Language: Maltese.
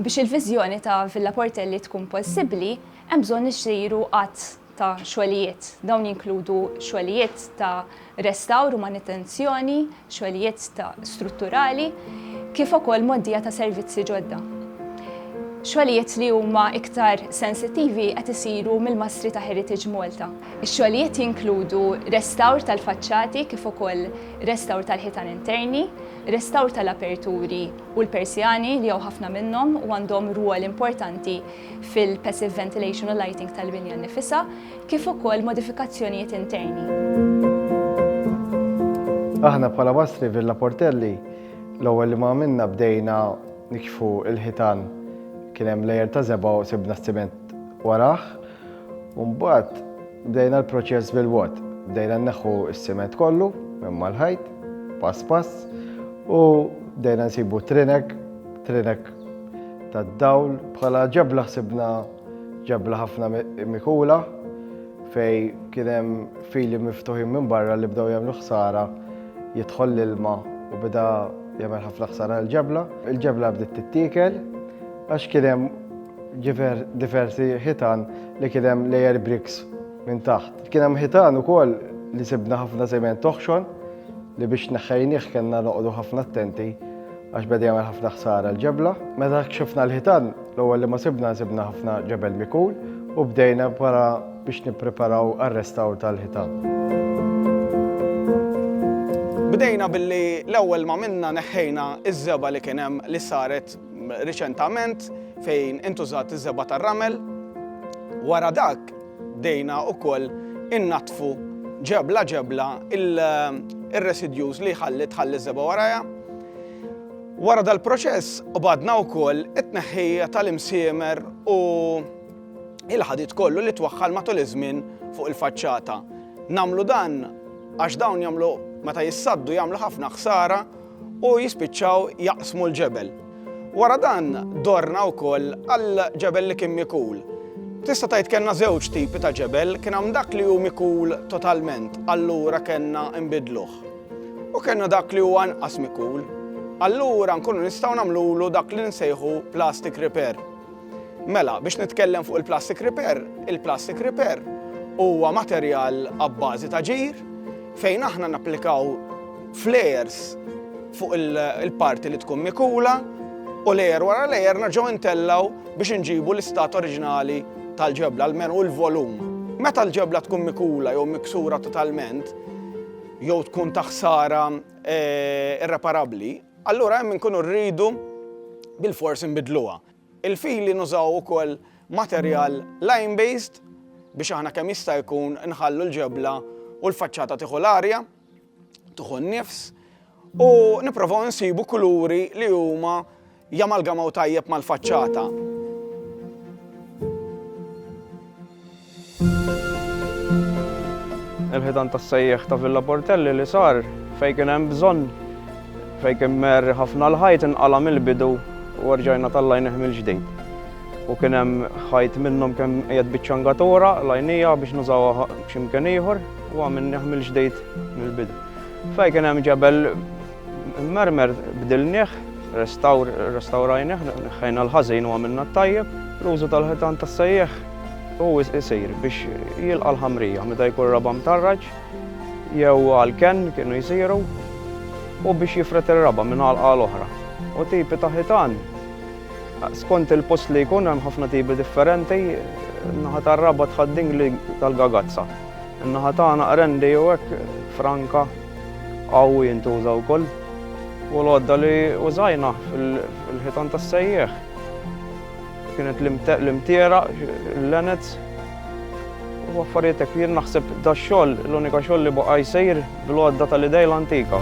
Biex il-viżjoni ta' Villa Portelli tkun possibbli, hemm bżonn isiru għadd ta' xogħlijiet. Dawn jinkludu xogħlijiet ta' restawr u manutenzjoni, xogħlijiet ta' strutturali, kif ukoll mgħoddija ta' servizzi ġodda. Xogħlijiet li huma iktar sensittivi qed isiru mill-mastri ta' Heritage Malta. Ix-xogħlijiet jinkludu restawr tal-faċċati kif ukoll restawr tal-ħitan interni, restawr tal-aperturi u l-persjani li hawn ħafna minnhom u għandhom rwol importanti fil-passive ventilation u lighting tal-binja nnifisha. kif ukoll modifikazzjonijiet interni. Aħna bħala Mastri Villa Portelli l-ewwel li ma għamilna bdejna nikxfu l-ħitan kien hemm lejer ta' żebgħa u sibna s-siment warah u mbagħad bdejna l-proċess bil-wot. Bdejna nneħħu s-siment kollu minn mal-ħajt pass pass u bdejna nsibu trinek, trinek tad-dawl bħala ġebla ħsibna ġabla ħafna mikula fej kien hemm fili miftuħin minn barra li bdew jagħmlu ħsara jidħol l-ilma u beda jagħmel ħafna ħsara l-ġabla. Il-ġabla bdiet tittiekel għax kien hemm diversi ħitan li kien hemm layer bricks minn taħt. Kien hemm ħitan ukoll li sibna ħafna żement toħxon li biex neħħejnieh kellna noqogħdu ħafna attenti għax beda jagħmel ħafna ħsara l-ġebla. Meta kxifna l-ħitan, l-ewwel li ma sibna sibna ħafna ġebel mikul u bdejna para biex nippreparaw għar-restawr tal-ħitan. Bdejna billi l-ewwel ma minna neħħejna iż-żeba li kien hemm li saret riċentament fejn intużat iż-żeba tar-ramel. Wara dak Bdejna wkoll innaddfu ġebla ġebla ir-residjus li jħalli tħalli ż-żebgħa warajha. Wara dal-proċess qbadna wkoll it-tneħħija tal-imsiemer u il-ħadid kollu li twaħħal matul iż-żmien fuq il-faċċata. Nagħmlu dan għax dawn jagħmlu meta jissaddu jagħmlu ħafna ħsara u jispiċċaw jaqsmu l-ġebel. Wara dan, dorna wkoll għal ġebel li kien mikul. Tista' tgħid kellna żewġ tipi ta' ġebel, kien hemm dak li hu mikul totalment, allura kellna nbidluh. U kellna dak li huwa anqas mikul. Allura nkunu nistgħu nagħmlulu dak li nsejħu plastic repair. Mela, biex nitkellem fuq il-plastic repair, il-plastic repair huwa materjal abbażi ta' ġir fejn aħna napplikaw flares fuq il-parti li tkun mikula u lejer wara lejer naġgħu intellaw biex inġibu l-istat oriġinali tal-ġebla, l-men u l-volum. Meta l-ġebla tkun mikula jew miksura totalment, jew tkun taħsara eh, irreparabbli, Allura hemm inkunu rridu bilfors inbiddluha. Il-fili nużaw ukoll materjal lime based biex aħna kemm jista' jkun nħallu l-ġebla u l-faċċata tieħu l-arja, tieħu n-nifs u nipprovaw insibu kuluri li huma jamalgamaw tajjeb mal-faċċata. Il-ħitan tas-sejjieħ ta' Villa Portelli li sar fejn kien hemm bżonn, fejn kien mgħerri ħafna l-ħajt inqala' mill-bidu u rġajna tallajnih mill-ġdid. U kien hemm ħajt minnhom kemm qiegħed biċ-ċangatura l-għajnija biex nużawha b'xi mkien ieħor u għamilnieh mill-ġdid mill-bidu. Fejn kien hemm ġebel Il-mermer bdilnieh, restawr, restawrajnieh, neħħejna l-ħażin u għamilna t-tajjeb. L-użu tal-ħitan tas-sejjieħ hu jsir biex jilqa' l-ħamrija meta jkun r-raba' mtarraġ jew għall-kenn kienu jsiru u biex jifred ir-raba' minn għalqa għal oħra. U tipi ta' ħitan skont il-post li jkun hemm ħafna tipi differenti, naħa tar-raba' tħaddingli tal-gagazza, naħa tagħna qrendi jew hekk franka. Hawn jintuża wkoll u l-għodda li użajna fil-ħitan tas-sejjieħ kienet l-imtiera, l-lenets u affarijiet hekk. Jien naħseb dax-xogħol l-unika xogħol li baqa' jsir bl-għodda tal-idejla antika.